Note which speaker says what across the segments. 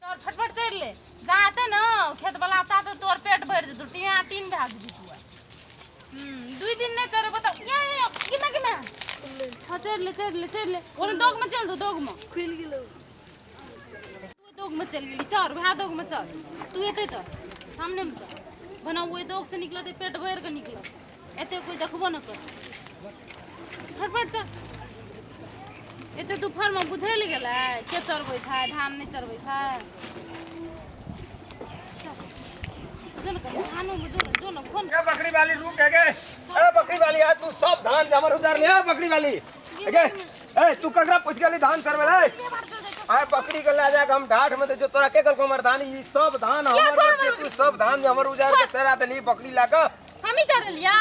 Speaker 1: तोर फटफट चढ़ि ले जा हेतै ने खेत बला ता तऽ तोर पेट भरि जेतौ टिया टीन भए जेतौ दुइ दिन नहि चढ़ेबो तऽ ये ये किमे किमे हँ चढ़ि ले चढ़ि ले चढ़ि ले ओने दोगमे चलि दो दोगमे खुलि गेलौ तू दोगमे चलि गेली चढ़ वएह दोगमे चढ़ तू एतै चढ़ सामनेमे चढ़ बना ओहि दोगसँ निकलतै पेट भरि कऽ निकलतै एते कोई देखबो न कर फटफट कर एते दुपहर में बुझे ले गेलै के चढ़बै छै धान नहीं
Speaker 2: चढ़बै छै बकरी वाली रुक है गए ए बकरी वाली आज तू सब धान जमर उतार ले बकरी वाली गए ए तू ककरा पूछ गेली धान चढ़वे ले आए बकरी के ला जाके हम ढाठ में जो तोरा के गल को मर्दानी ई सब धान हमर तू सब धान जमर उजार के चरा देली बकरी लाके
Speaker 1: हमी चढ़लिया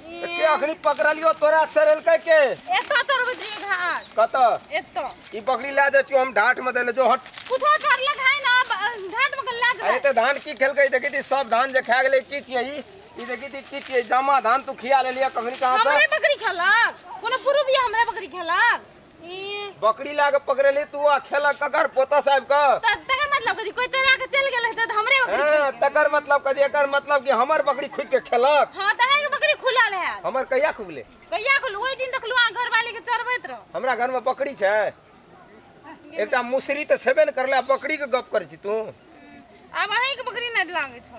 Speaker 2: के अखनी पकड़लियो तोरा सरल के के एतो चढ़बै छी
Speaker 1: घाट कत एतो
Speaker 2: ई
Speaker 1: बकरी ला
Speaker 2: दे हम ढाट में देले जो हट कुछो चढ़ले खाय
Speaker 1: ना ब- घाट में गल्ला अरे जबै तो धान की खेलकै
Speaker 2: देखी थी सब धान जे खा गेलै की छियै ई ई देखी थी की छियै जमा धान तू खिया लेलिया कखनी कहाँ से हमरे बकरी खेलक
Speaker 1: कोनो पुरुबिया हमरे बकरी खेलक ई बकरी ला के पकड़ेली
Speaker 2: तू आ खेलक ककर पोता साहब का त तकर मतलब कथी
Speaker 1: कोई चोरा के चल गेल रहते त हमरे बकरी हाँ, तकर मतलब
Speaker 2: कथी एकर मतलब कि हमर बकरी खुद के खेलक हां त है बकरी खुलल
Speaker 1: है हमर कहिया खुगले
Speaker 2: कहिया खुल ओई दिन
Speaker 1: देखलु आ घर वाले के चरबैत रह हमरा घर में बकरी छै
Speaker 2: एकटा मुसरी तऽ छेबे ने करले आ बकरी के गप करै छी तू आब अहीं
Speaker 1: के बकरी नै लागे छौ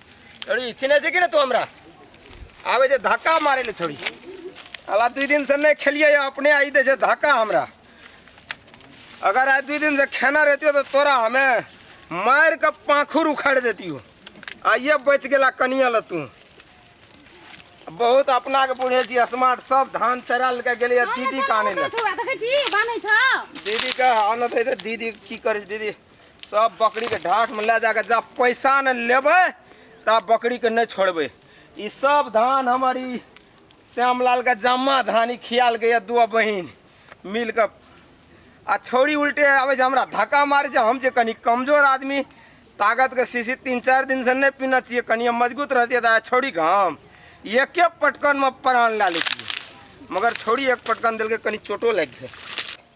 Speaker 2: छोड़ी चिन्है छै कि ने तू हमरा आबे छै धक्का मारे ले छोड़ी अला दू दिन से नहीं खेलिए या अपने आई दे छै धक्का हमरा अगर आज दू दिन से खेना रहती तो तोरा हमें मार के पाखुर उखाड़ देती हो आइए बच गेला कनिया ल तू बहुत अपना के बुझे छी स्मार्ट सब धान चरा लेके गेलिए दीदी काने ले देखै छी बानै
Speaker 1: छ दीदी के
Speaker 2: आनत है तो दीदी की करे छै दीदी सब बकरी के ढाट में ले जाके जब पैसा न लेबे तब बकरी के नहीं छोड़बे ई सब धान हमर ई श्यामलाल के जम्मा धान ई खियाल के ये दू बहिन मिल के आ छौरी उल्टे आवे जे हमरा धक्का मारे जे हम जे कनी कमजोर आदमी ताकत के शीशी तीन चार दिन से नहीं पीना चाहिए कनी हम मजबूत रहती था छौरी के हम एके पटकन में प्राण ला लेती मगर छौरी एक पटकन दिल के कनी चोटो लग गए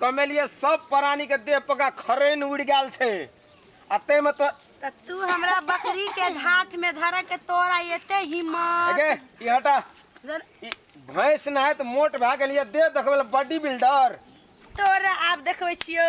Speaker 2: कमेलिए सब प्राणी के देह पर का खरैन उड़ गेल छै आ तै में तो त तू हमरा
Speaker 1: बकरी के ढाठ में धर के तोरा एते हिम्मत अगे ई हटा
Speaker 2: जर- ई भैंस ना है तो मोट भए गेलिए देह देखबै बॉडी बिल्डर तोरा
Speaker 1: आब देखबै छियो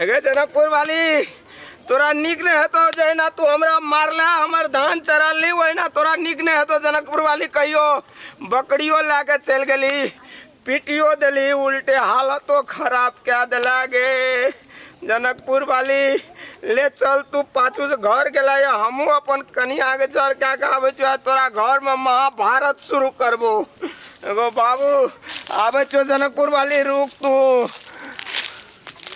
Speaker 2: अगे जनकपुर वाली तोरा निक नहीं हेतो जहिना तू हमरा मारला हमर धान चरा ली वहिना तोरा निक नहीं हेतो जनकपुर वाली कहियो बकरियो ला के चल गली पीटियो दिली उल्टे हालतो खराब क्या दिला गे जनकपुर वाली ले चल तू पाछू से घर गेला या हमू अपन कनिया के जर क्या कहबे छो तोरा घर में महाभारत शुरू करबो एगो बाबू आबे छो जनकपुर वाली रुक तू